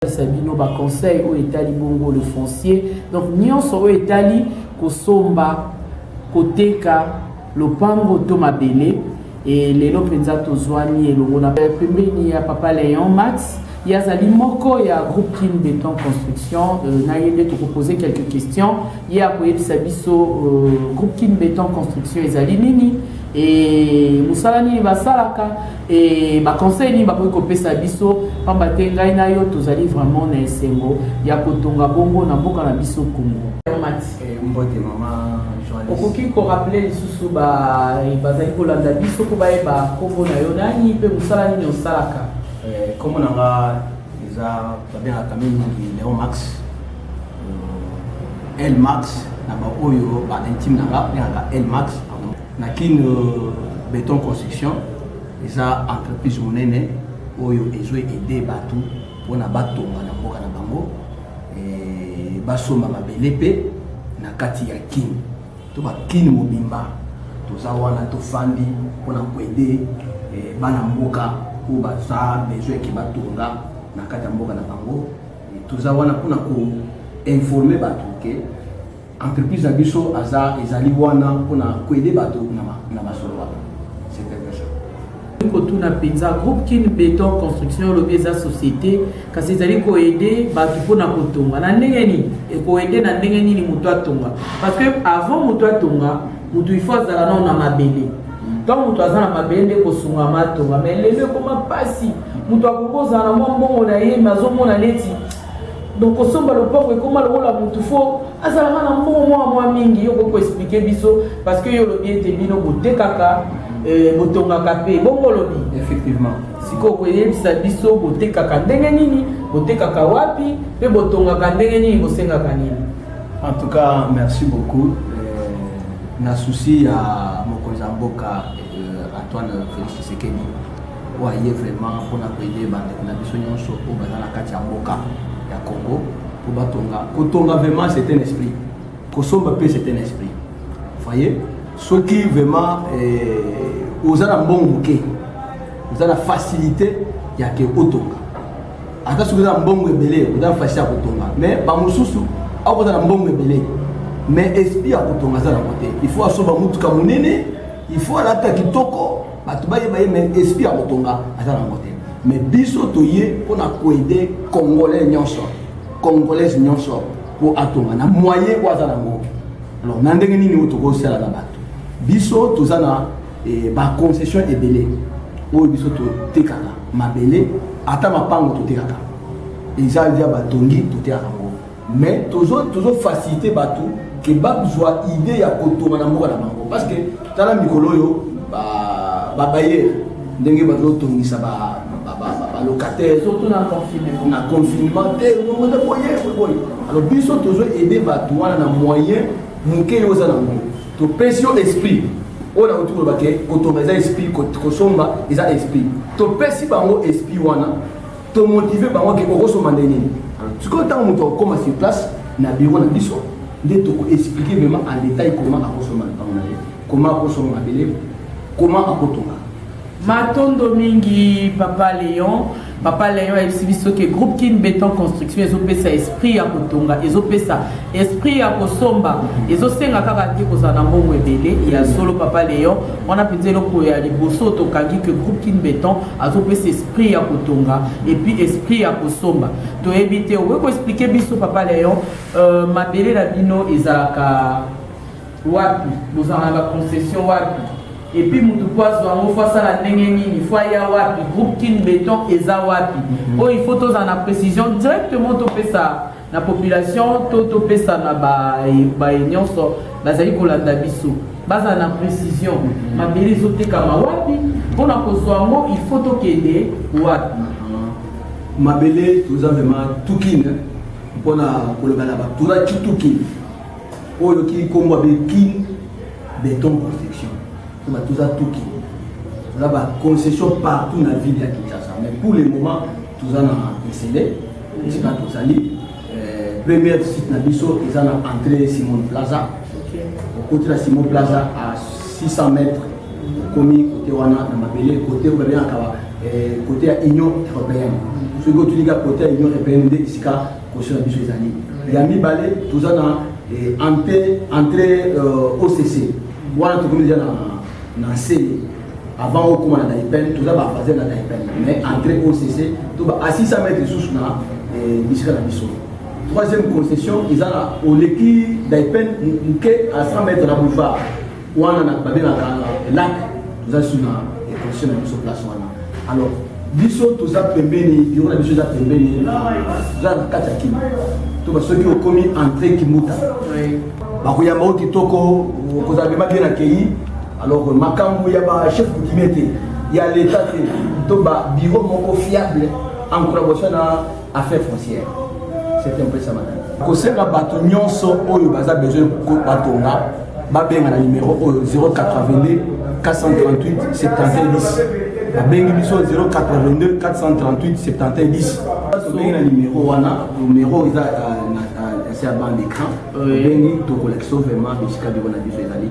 kosalisa bino ba conseil oyo etali bongo le foncier donc nyonso oyo etali kosomba koteka lopango to mabele e lelo mpenza tozwani elongo na pembeni ya papa leon max ye azali moko ya groupe kin beton construction euh, na ye nde tokopose quelques questions ye akoyebisa biso euh, groupe kin beton construction ezali nini e mosala nini basalaka E baconseil nini bakoki kopesa biso mpamba te ngai na yo tozali vraiment na esengo ya kotonga bongo na mboka na biso Congo. Eh, mbote mama okoki koraple lisusu bazali kolanda biso mpo bayeba nkombo na yo nani mpe mosala nini osalaka eh, nkombo na nga eza babengaka mingi leon max eh, el max na baoyo baintime na nga bengaka el max Na kin beton construction eza entreprise monene oyo ezo aider batu pona batonga na mboka na bango eh, basomba mabele mpe na kati ya kin to bakin mobimba toza wana tofandi mpona koede eh, bana mboka oyo baza besoin eke batonga na kati ya mboka na bango toza wana mpona koinforme bato ke Entreprise na biso aza ezali wana pona koede bato na masolo wana. C'est un peu ça. kotuna mpenza groupe kin beton construction olobi eza société kasi ezali koede bato mpona kotonga na ndenge nini ekoede na ndenge nini moto atonga parce que avant moto atonga moto il faut azala nao na mabele ntango moto aza na mabele nde kosungama atonga mai lelo ekoma mpasi moto akoki kozala na mwa mbongo na ye me azomona neti donc kosomba lopango ekoma lokola mutu fo azalaka na mbongo mwa mwa mingi yo okoki koexplike biso parce que yo olobi ete bino botekaka eh, botongaka mpe bongo olobi effectivement sikoyo koyebisa biso botekaka ndenge nini botekaka wapi mpe botongaka ndenge nini bosengaka nini en tout cas merci beaucoup eh, na souci ya mokonzi ya mboka eh, antoine félix tshisekedi oyo aye vraiment mpona koyede bandeko na biso nyonso oyo baza na kati ya mboka ya congo mpo batonga kotonga vraiment c'est un esprit kosomba mpe c'est un esprit voye soki vraiment eh, oza na mbongo moke oza na facilité ya ke otonga ata soki oza na mbongo ebele oza na facilité ya kotonga mais bamosusu akoza na mbongo ebele mais esprit ya kotonga aza na kote il faut asomba motuka monene il faut alata kitoko bato bayeba ye mais esprit ya kotonga aza na yango te mais biso toye mpo na koede congolais nyonso congolaise nyonso mpo atonga na moyen oyo aza na yango alors na ndenge nini oyo tokosala na bato biso toza na eh, baconcession ebele oyo biso totekaka mabele ata mapango totekaka eza ya batongi totekaka yango Mais tozo tozo faciliter batu que bazwa idée ya kotonga na mboka na bango parce que tala mikolo oyo ba ba bailleurs ndenge bazo tongisa ba ba locataire surtout na confinement na confinement te ngongo te boye boye alors biso tozo aider batu wana na moyen moke yo oza na ngo topesi yo esprit oyo nakoki koloba ke kotonga eza esprit kosomba eza esprit topesi bango esprit wana to motive bango ke okosomba nde nini sikoyo ntango moto akokoma sur place na biro na biso nde tokoexplike vraiment en détail comment akosomba ntango na ye comment akosomba mabele comment akotonga matondo mingi papa leon papa leon ayebisi biso ke groupe kin beton construction ezopesa esprit ya kotonga ezopesa esprit ya kosomba ezosenga kaka te kozala na mbongo ebele ya solo papa leon wana mpenza eloko ya liboso tokangi ke groupe kin beton azopesa esprit ya kotonga epuis esprit ya kosomba toyebi te okoki koexplike biso papa leon euh, mabele na bino ezalaka wapi bozalaka na baconcession wapi epuis motu mpo azwa yango fo asala ndenge nini fo aya wapi groupe kin beton eza wapi oyo il faut tozala na précision directement topesa na population to topesana baye nyonso bazali kolanda biso bazala na précision mm-hmm. mabele ezotekama wapi mpo na kozwa yango il faut tokende wapi mm-hmm. mabele toza vraimen tukine mpo na koloba na baturaki tukine oyo oyoki nkombo abe kin beton construction toza tukine toza baconcession partout na ville ya kinshasa mais pour le moment toza na esele esika tozali eh, première visite na biso eza na entrée simon plaza okoti na simon plaza à 600 mètres okomi kote wana na mabele kote babengaka kote eh, ya union européenne soki otunika kote ya union européenne nde esika kosio na biso ezali ya mibale toza na eh, entrée occ euh, wana tokomi deja na nsele avant okoma na naipel toza bafaze na naipel mais entré occ to ba a 600 mètre lisusu na eh, bisika na biso troisième concession eza na oleki naipel moke a 100 mètre na boulevard wana na babengaka eh, lac toza lisusu na eh, concession na biso place wana alors biso toza pembeni biro na biso eza pembeni toza na kati ya kima to ba soki okomi entré kimuta bakoyamba o kitoko okozala bema bien akei Alors que makambo ya ba chef coutumier te ya l'État te to ba bureau moko fiable en collaboration na affaires foncières. C'est un peu ça madame. kosenga bato nyonso oyo baza besoin batonga babenga na numero oyo 082 438 7110 babengi biso 082 438 7110 tobengi na numero wana numero eza euh, euh, na se ya bande écran obengi tokolakisa vraiment bisika biko na biso ezali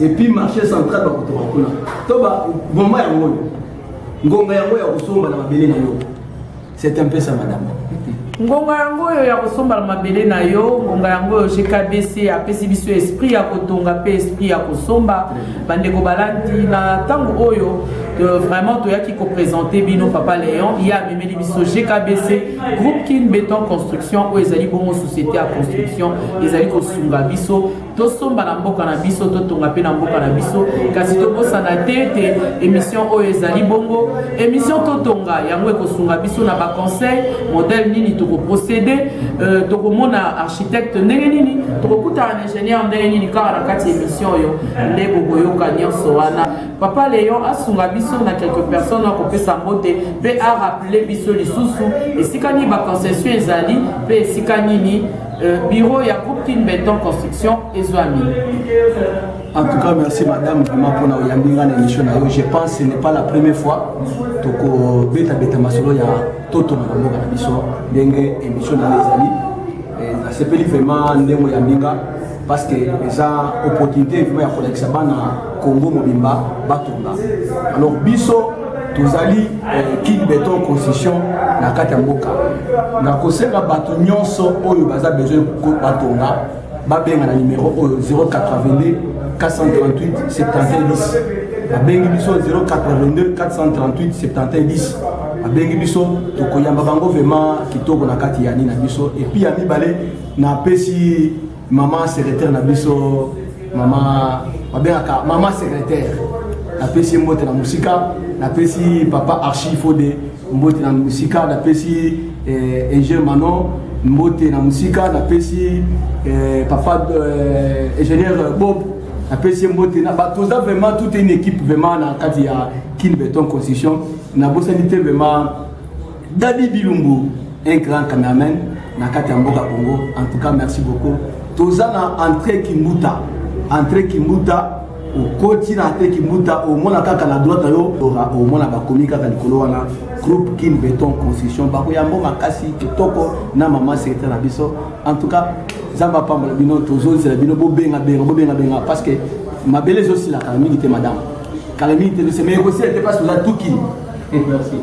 et puis marché central bakotoka kuna to boma yango oyo ngonga yango ya kosomba na mabele na yo c'est un peu ça madame ngonga yango oyo ya kosomba na mabele na yo ngonga yango oyo gkbc apesi biso esprit ya kotonga mpe esprit ya kosomba bandeko balandi na ntango oyo euh, vraiment toyaki kopresente bino papa leon ye amemeli biso gkbc groupe kin beton construction oyo ezali bongo société ya construction ezali kosunga biso tosomba na mboka na biso totonga mpe na mboka na biso kasi tobosana te ete émission oyo ezali bongo émission totonga yango ekosunga biso na baconseil modèle nini tokoprocédé euh, tokomona architecte ndenge nini tokokutana na ingénieur ndenge nini kaka na kati ya émission oyo nde bokoyoka nyonso wana papa léon asunga biso na quelque personne akopesa mbote mpe arappele biso lisusu esika nini baconcession ezali mpe esika nini Euh, bureau ya groupe kin beton construction ezwami en tout cas merci madame vraiment mpona oyambi ngai na émission na yo je pense ce n'est pas la première fois tokobetabeta masolo ya totona na mboka na biso ndenge émission na yo ezali eh, nasepeli vraiment ndenge oyambi nga parce que eza opportunité vraiment ya kolakisa bana Congo mobimba batonga alors biso tozali eh, kin beton constitution na kati ya mboka na kosenga bato nyonso oyo baza besoin batonga babenga na nimero oyo 082 438 70 babengi biso 082 438 70 babengi biso tokoyamba bango vraiment kitoko na kati ya nini na biso epuis ya mibale napesi Maman secrétaire na biso maman babengaka maman secrétaire napesi ye mbote na mosika napesi papa archi fode mbote na mosika napesi eh, ingenieur manon mbote na mosika napesi eh, papa eh, ingenieur bob napesi ye mbote na bato oza vraiment toute une équipe vraiment na kati ya kin beton construction nabosani te vraiment Daddy Bilumbu, un grand cameraman na kati ya mboka Congo. En tout cas, merci beaucoup. Toza na entrée Kimbuta. Entrée Kimbuta okoti na entrée Kimbuta, omona kaka na droite yo, omona bakomi kaka likolo wana groupe Kin Beton Construction. Bako yambo makasi kitoko na maman secrétaire na biso. En tout cas, Zamba apambola bino, tozozela bino bobenga benga bobenga benga parce que mabele ezosilaka mingi te madame. Kala mingi te, mais ekosila te parce que oza tuki. Merci.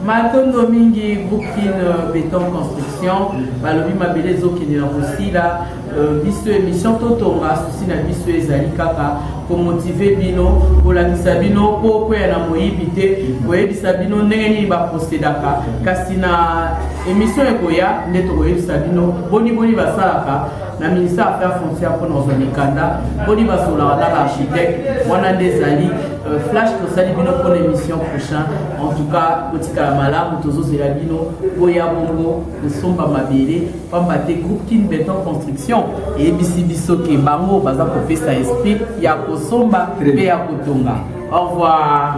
Matondo mingi groupe kin euh, beton construction balobi mabele ezokende na kosila euh, biso émission totonga susi na biso ezali kaka komotive bino kolakisa bino mpo okweya na moyibi te koyebisa bino ndenge nini baprosedaka kasi na émission ekoya nde tokoyebisa bino boni boni basalaka na ministère affaire foncière mpo na ozwa mikanda boni basolaka na baarchitecte wana nde ezali Euh, flash tosali bino mpo na émission prochain en tout cas kotikala malamu tozozela bino boya bongo kosomba mabele mpamba te groupe kin beton construction eyebisi biso ke bango baza kopesa esprit ya kosomba mpe ya kotonga au revoir